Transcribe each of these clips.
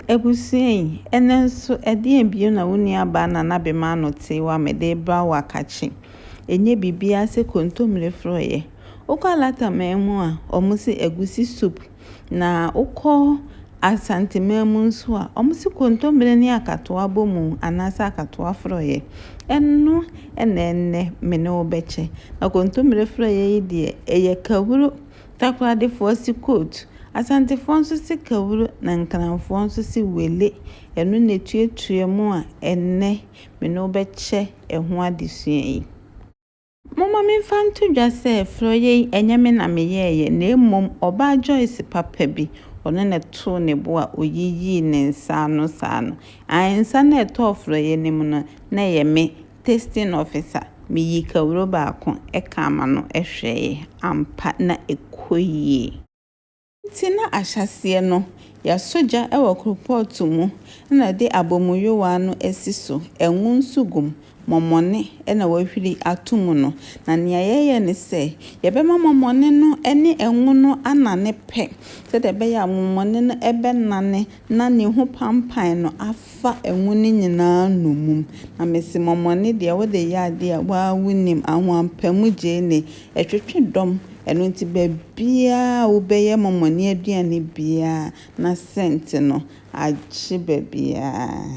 Abusua yi, ɛnnɛ nso ɛdeɛn bio na wo nuabaa Nana Bema ano tee wo a mede rebrɛ wo akakye? Ɛnyɛ biribiara sɛ kontomire forɔeɛ. Wokɔ Alata man mu a, wɔse agusi soup. Na wokɔ Asante man mu nso a, wɔse kontomire ne akatoa bɔ mu anaasɛ akatoa forɔeɛ. Ɛno na ɛnnɛ me ne wo bɛkyɛ. Na kontomire forɔeɛ yi deɛ, ɛyɛ kahuro Takoradefoɔ se kootu. Asantefoɔ nso se kawuro na Nkranfoɔ nso se wele. Ɛno na ɛtuatua mu a ɛnnɛ me ne wo bɛkyɛ ɛho adesua yi. Momma memfa nto dwa sɛ frɔeɛ yi ɛnyɛ me na meyɛeɛ na mmom ɔbaa Joyce papa bi, ɔno na ɛtoo ne bo a ɔyiyii ne nsa ano saa no. Ae, nsa no a ɛtɔɔ frɔeɛ no mu no, na ɛyɛ me Testing officer, me yii kawuro baako kaa m'ano hwɛɛe, ampa na ɛkɔ yie. Nti na ahyɛaseɛ no yɛasɔ gya wɔ koropɔɔto mu na de abɔmuyowaa no asi so, ngo nso gu mu, mɔmɔne na wɔahwiri ato mu no, na nea yɛyɛ ne sɛ yɛbɛma mɔmɔne no ne ngo no anane pɛ sɛdeɛ ɛbɛyɛ a mɔmɔne no bɛnane, na ne ho panpan no afa ngo no nyinaa nnomum, na mese mɔmɔne deɛ wode yɛ adeɛ a woaa wonim, ahoampamu gyeene, ɛtwetwe dɔm, ɛno nti baabiaa a wobɛyɛ mɔmɔne aduane biaa na scent no agye baabiaa.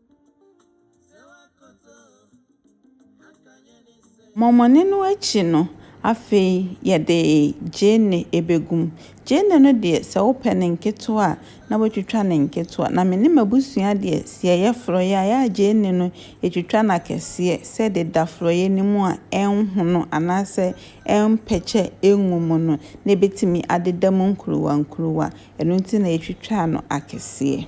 Mɔmɔne no akyi no, afei yɛde gyeene bɛgu mu. Gyeene no deɛ, sɛ wopɛ no nketewa a, na woatwitwa no nketewa. Na me ne m'abusua deɛ, sɛ yɛyɛ forɔeɛ a, ɛyɛ a gyeene no, yɛtwitwa no akɛseɛ sɛ ɛde da forɔeɛ no mu a, ɛrenhono anaasɛ ɛrempɛkyɛ ngu mu no, na ɛbɛtumi adeda mu nkuruwa nkuruwa. Ɛno nti na yɛtwitwaa no akɛseɛ.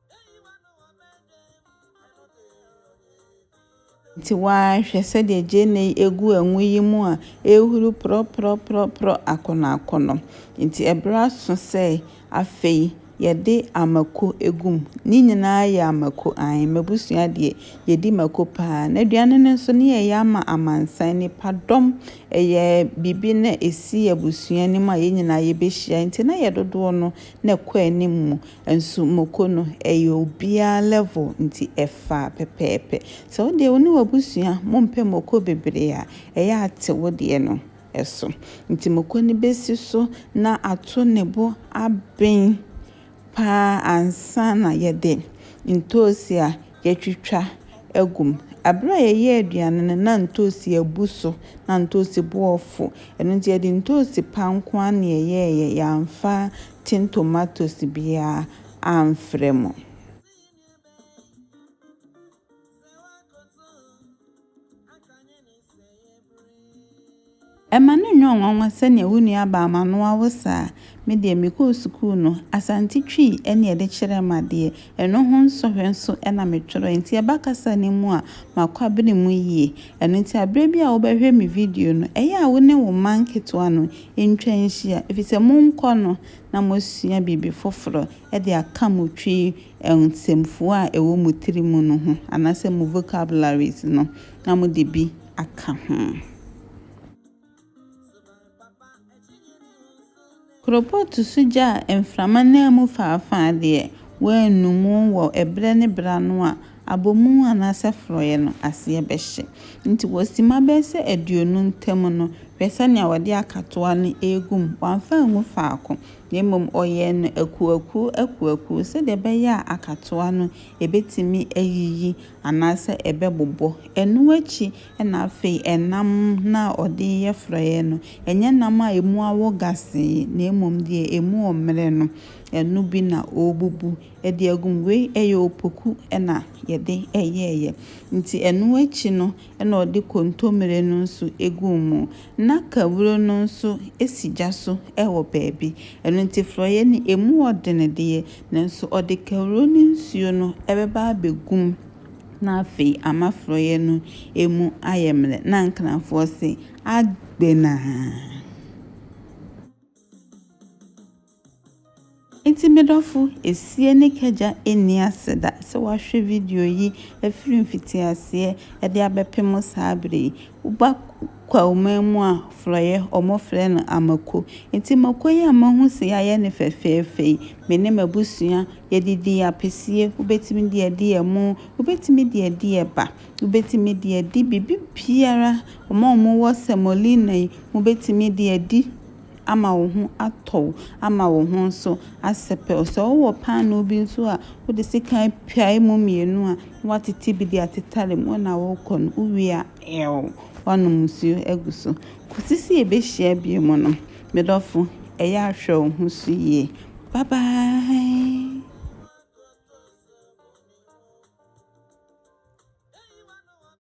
Nti waa hwɛ sɛdeɛ gyeene yi ɛgu ɛngo yi mu a ɛrehuru prɔprɔprɔprɔ akɔnɔakɔnɔ. Nti ɛberɛ aso sɛ afei yɛde amako ɛgu mu. Ne nyinaa yɛ amako ae. M'abusua deɛ yɛdi mako paa. N'aduane no nso ne yɛyɛ ama amansan. Nnipa dɔm ɛyɛ biribi na ɛsi abusua no mu a yɛn nyinaa yɛbɛhyia. Nti na yɛdodoɔ no na ɛkɔ anim mu. Nso moko no ɛyɛ obiara level nti ɛfa pɛpɛɛpɛ. Sɛ wo deɛ wo ne w'abusua mo mpɛ moko bebree a, ɛyɛ a te wo deɛ no so. Nti moko no bɛsi so na ato ne bo aben paa ansa na yɛde ntoosi a yɛatwitwa agu mu. Ɛberɛ a yɛyɛ aduane no na ntoosi abu so, na ntoosi boɔ fo. Ɛno nti yɛde ntoosi pa nko ara na yɛyɛɛyɛ, yɛamfa Tin tomatoes biara amfrɛ mo. Ɛma no nyɛ nwanwa sɛ nea wo nua baa m'anoa wo saa. Me deɛ mekɔɔ sukuu no, Asante Twi ne yɛde kyerɛɛ me adeɛ. Ɛno ho nsɔhwɛ nso na metwerɛɛ. Enti ɛba kasa no mu a, makɔ abene mu yie. Ɛno nti berɛ bi a wobɛhwɛ me video no, ɛyɛ a wo ne wo mma nketewa no ntwa nhyia, ɛfiri sɛ monkɔ no na moasua biribi foforɔ de aka mo Twi nsɛmfua a ɛwɔ mo tiri mu no ho anaasɛ mo vocabularies no na mode bi aka ho. Koropootu so gya a mframa nam mu faafa deɛ, wɔannu mu wɔ ɛberɛ ne berɛ ano a Abɔmu anaasɛ forɔeɛ no aseɛ bɛhye. Nti wɔsima bɛyɛ sɛ aduonu ntam no, hwɛ sɛdeɛ wɔde akatoa no regu mu. Wamfa angu faako, na mmom ɔyɛɛ no akuoakuo akuoakuo sɛdeɛ ɛbɛyɛ a akatoa no ɛbɛtumi ayiyi anaasɛ ɛbɛbobɔ. Ɛno akyi na afei ɛnam no a ɔde reyɛ forɔeɛ no, ɛnyɛ nam a ɛmu awo gasee, na mmom deɛ ɛmu ɔmmerɛ no, ɛno bi na ɔrebubu Ɛde agum wei ɛyɛ opoku na yɛde yɛɛyɛ nti ɛno akyi no na ɔde kontomire no nso guu mu na kawuro no nso si gya so wɔ baabi ɛno nti frɔeɛ no ɛmu yɛ den deɛ nanso ɔde kawuro no nsuo no bɛba abɛgu mu na afei ama frɔeɛ no ɛmu ayɛ mmerɛ na Nkranfoɔ se Agbenaa. Enti me dɔfo, esie ne kagya nni ase da sɛ woahwɛ video yi afiri mfitiaseɛ de abɛpem saa berɛ yi. Woba Kwawu man mu a, frɔeɛ, wɔfrɛ no amako. Enti mako yi a mahu sɛ yɛayɛ no fɛfɛɛfɛ yi, me ne m'abusua yɛde di apesie, wobɛtumi de adi ɛmo, wobɛtumi de adi ɛba, wobɛtumi de adi biribibiara, wɔn a wɔwɔ semolina yi, mobɛtumi de adi. ama wo ho atɔ wo, ama wo ho nso asɛpɛw. Sɛ wowɔ paanoo bi nso a, wode sekan pia emu mmienu a, na woatete bi de atetare mu na worekɔ no. Wowie a, ɛɛw, woanom nsuo agu so. Kɔsi sɛ yɛbɛhyia bio mu no, me dɔfo, ɛyɛ a hwɛ wo ho so yie. Bye bye!